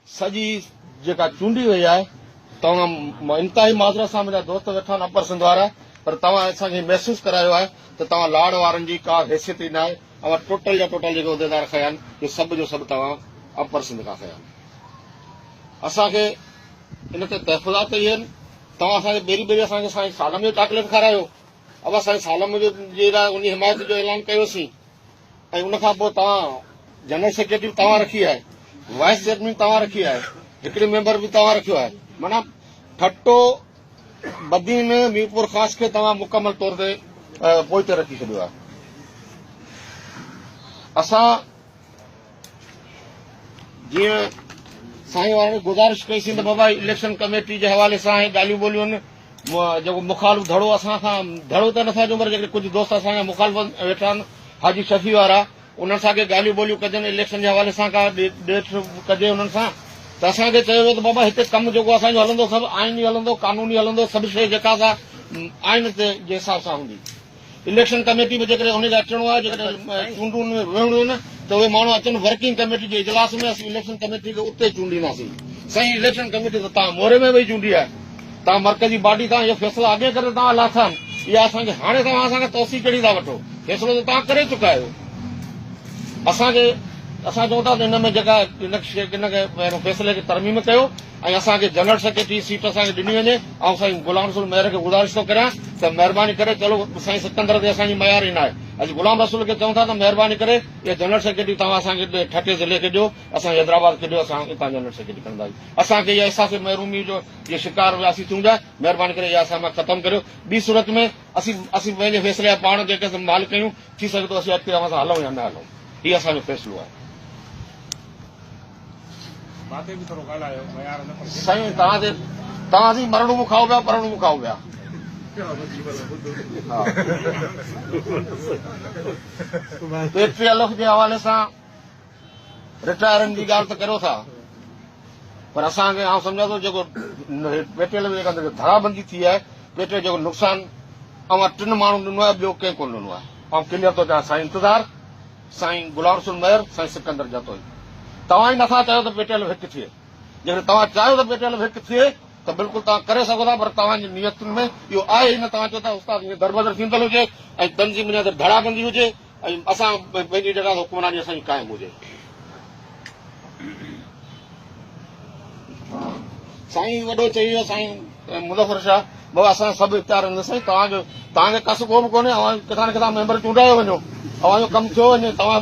سڄي جيڪا چونڊي وئي آهي توهان انتهائي معذرت سان منهنجا دوست ويٺا آهن اپر سنڌ وارا پر توهان اسان کي محسوس ڪرايو آهي ته توهان لاڙ وارن جي ڪا حيثيت ئي ناهي اوهان ٽوٽل جا ٽوٽل جيڪي عهديدار کنيا آهن اهي سڀ جو سڀ توهان اپر سنڌ کان کنيا آهن اسان کي ان تي تحفظات ڪئي آهن توهان اسان کي ٻيري ٻيري اسان کي سائين سالم جو چاڪليٽ کارايو اوهان سائين سالم منهنجو جي لاء ان حمايت جو اعلان ڪيو سين ۽ ان کان پوء توهان جنرل سيڪريٽري به توهان رکي آهي وائيس چيئرمين توهان رکي آهي هڪڙي ميمبر به توهان رکيو آهي معنيٰ ٺٽو بدين ميرپور خاص کي توهان مڪمل طور تي پوئتي رکي ڇڏيو آهي اسان جيئن سائين وارن گذارش ڪئي سين ته بابا اليڪشن ڪميٽي جي حوالي سان هي ڳالهيون ٻولهيون جيڪو مخالف ڌڙو اسان سان ڌڙو ته نٿا چون پر جيڪي ڪجهه دوست اسان جا مخالف ويٺا آهن حاجي شفيع وارا انهن سان ڪي ڳالهيون ٻولهيون ڪجن اليڪشن جي حوالي سان کا ڏيٺ ڪجي انهن سان ته اسان کي چيو ويو ته بابا هتي ڪم جيڪو اسانجو هلندو سڀ آئيني هلندو قانوني هلندو سڀ شيء جيڪا سا آئين تي جي حساب سان هوندي اليڪشن ڪميٽي به جيڪڏهن انهي کي اچڻو آهي جيڪڏهن چونڊون ۾ ويهڻو آهي نه ته اهي ماڻهو اچن ورڪنگ ڪميٽي جي اجلاس ۾ اسين اليڪشن ڪميٽي کي اتي چونڊينداسين سائين اليڪشن ڪميٽي ته توهان موري ۾ ويهي چونڊي آهي توهان مرڪزي باڊي توهان اهي فيصلا اڳي ڪري توهان لاٿا آهن اها اسان کي هاڻي توهان اسان کان توسيع ڪهڙي ٿا وٺو فيصلو ته توهان ڪري چڪا آهيو اسان کي اسان چون ٿا ته ان ۾ جيڪا ان کي ان کي فيصلي کي ترميم ڪيو ۽ اسان کي جنرل سيڪريٽري جي سيٽ اسان کي ڏني وڃي آئون سائين غلام رسول مير کي گذارش ٿو ڪريان ته مهرباني ڪري چلو سائين سڪندر تي اسان جي ميار ئي ناهي اڄ غلام رسول کي چئون ٿا ته مهرباني ڪري اها جنرل سيڪريٽري توهان اسان کي ٺٽي ضلعي کي ڏيو اسان جي حيدرآباد کي ڏيو اسان اتان جنرل سيڪريٽري کڻنداسين اسان کي اها احساس محرومي جو جي شڪار وياسين ٿيون جا مهرباني ڪري اها اسان مان ختم ڪريو ٻي صورت ۾ اسين اسين پنهنجي فيصلي جا پاڻ جيڪي اسان مالڪ آهيون ٿي سگهي ٿو اسين اڳتي اوهان سان هلون يا نه هلون هي اسان جو فيصلو آهي. سائين توهان جي توهان جي مرڻو مون کائو پيا پرڻو مون کائو پيا پي ٽي ايل ايف جي حوالي سان رٽائرن جي ڳالهه ته ڪريو ٿا پر اسان کي آئون سمجھان ٿو جيڪو پي ٽي ايل جيڪا ڌڙا بندي ٿي آهي پي ٽي جيڪو نقصان اوهان ٽن ماڻهن ڏنو آهي ٻيو ڪنهن ڪونه ڏنو آهي آئون ڪليئر ٿو چوان سائين انتظار سائين گلاب رسول مير، سائين سڪندر جتوئي توهان ئي نٿا چاهيو ته پيٽي علم هڪ ٿئي، جيڪڏهن توهان چاهيو ته پيٽي علم هڪ ٿئي ته بلڪل توهان ڪري سگهو ٿا پر توهان جي نيتن ۾ اهو آهي ئي نه، توهان چئو ٿا استاد ائين دربدر ٿيندل هجي ۽ تنظيم اڃا تائين ڌڙا بندي هجي ۽ اسان ٻئي جي جڳهه تي حڪمراني اسان جي قائم هجي. سائين وڏو چئي ويو سائين مظفر شاهه بابا اسان سڀ اختيار آهن سائين توهان جو توهان کي ڪس ڪو به ڪونهي اوهان ڪٿان نه ڪٿان ميمبر چونڊايو وڃو اوهان جو ڪم ٿيو وڃي توهان